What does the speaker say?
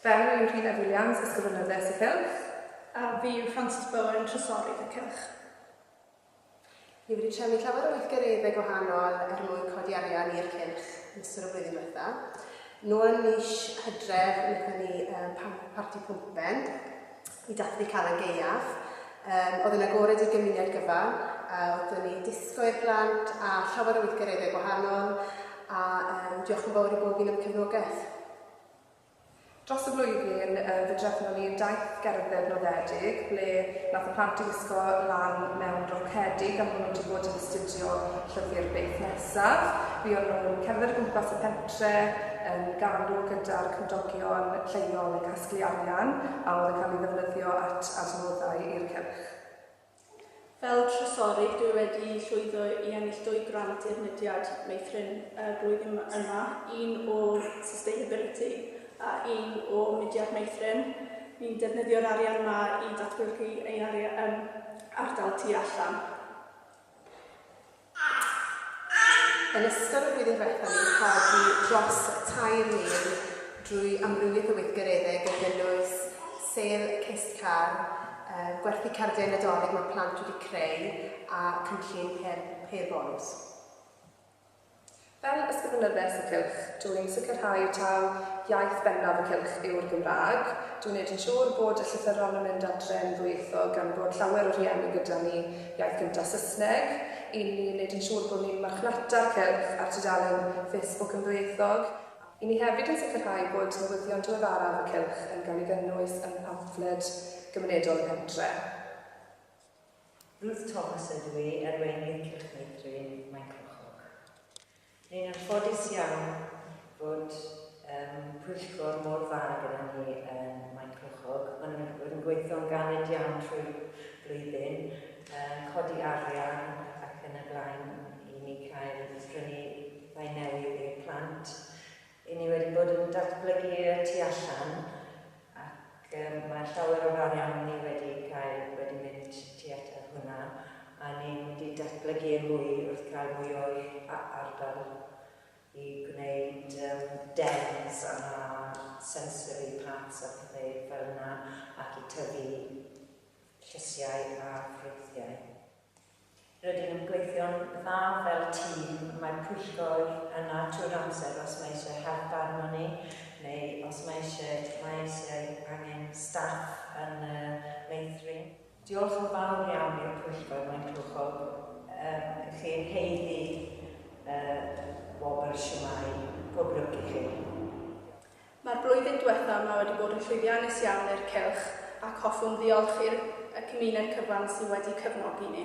Fel yw Rhuned Williams, Ysgrifenyddes y Cylch. A fi yw Frances Bowen, Trysorydd y Cylch. Ni wedi trefnu llawer o weithgareddau gwahanol er mwyn codi arian i'r cylch yn ystod y flwyddyn diwetha. Nôl mis Hydref, wnaethon ni um, parti pwmpen i dathlu Calan Gaeaf. Um, oedd yn agored i'r gymuned gyfan, a oeddwn ni disgo i'r blant a llawer o weithgareddau gwahanol, a um, diolch yn fawr i bob un am cefnogaeth. Dros y flwyddyn yy fe drefnon ni daith gerdded noddedig ble nath y plant i wisgo lan mewn rocedi gan bo' nhw wedi bod yn astudio llyfr Beth Nesaf. Fuon nhw'n cerdded o gwmpas y pentre yn galw gyda'r cymdogion lleol i casglu arian a oedd yn cael ei ddefnyddio at adnoddau i'r cylch. Fel trysorydd, dwi wedi llwyddo i ennill dwy grant i'r mudiad meithrin y flwyddyn yma, un o Sustainability a un o Mudiad Meithrin. Ni'n defnyddio'r arian yma i datblygu ein arian, um, ardal tu allan. Yn ystod y flwyddyn diwethaf ni'n codi dros tair mil drwy amrywiaeth o weithgareddau gan gynnwys sêl cist car, gwerthu cardiau Nadolig mae plant wedi creu a cynllun her bonws. Fel Ysgrifenyddes y Cylch, dw i'n sicrhau taw iaith bennaf y Cylch yw'r Gymraeg. Dw i'n neud yn siŵr bod y llythyron yn mynd adre yn ddwyieithog gan bod llawer o rhieni gyda ni iaith gynta Saesneg. I ni yn neud yn siŵr bod ni'n marchnata'r Cylch ar tudalen Facebook yn ddwyieithog, a. I ni hefyd yn sicrhau bod newyddion diweddaraf y Cylch yn cael ei gynnwys yn pamffled gymunedol y pentre. Ruth Thomas ydw i, er wên liciwch neu thrin, mae'n clochog. Ni'n anffodus iawn bod um, pwyllgor mor dda gyda ni um, mae'n clochog. Mae nhw'n bod yn gweithio'n galed iawn trwy blwyddyn, um, codi arian ac yn y blaen i ni cael prynu rhai newydd i'r plant. Y'n ni wedi bod yn datblygu y tu allan ac mae llawer o'r arian ni wedi cael wedi mynd tuat at hwnna a ni'n mynd i datblygu e mwy wrth gael mwy o ardal i gwneud dens a sensory parks a pethau fel yna ac i tyfu llysiau a ffrwythiau. Rydyn ni'n gweithio'n dda fel tîm, mae'r pwyllgor yna trwy'r amser os mae eisiau help arnon ni neu os mae eisiau, mae eisiau angen staff yn y meithrin. Diolch yn fawr iawn i'r pwyllgor, mae'n clwychol i chi yn haeddu y wobr, shwmae, pob lwc i chi. Mae'r blwyddyn diwethaf yma wedi bod yn llwyddiannus iawn i'r cylch ac hoffwn ddiolch i'r y cymuned cyfan sydd wedi cefnogi ni.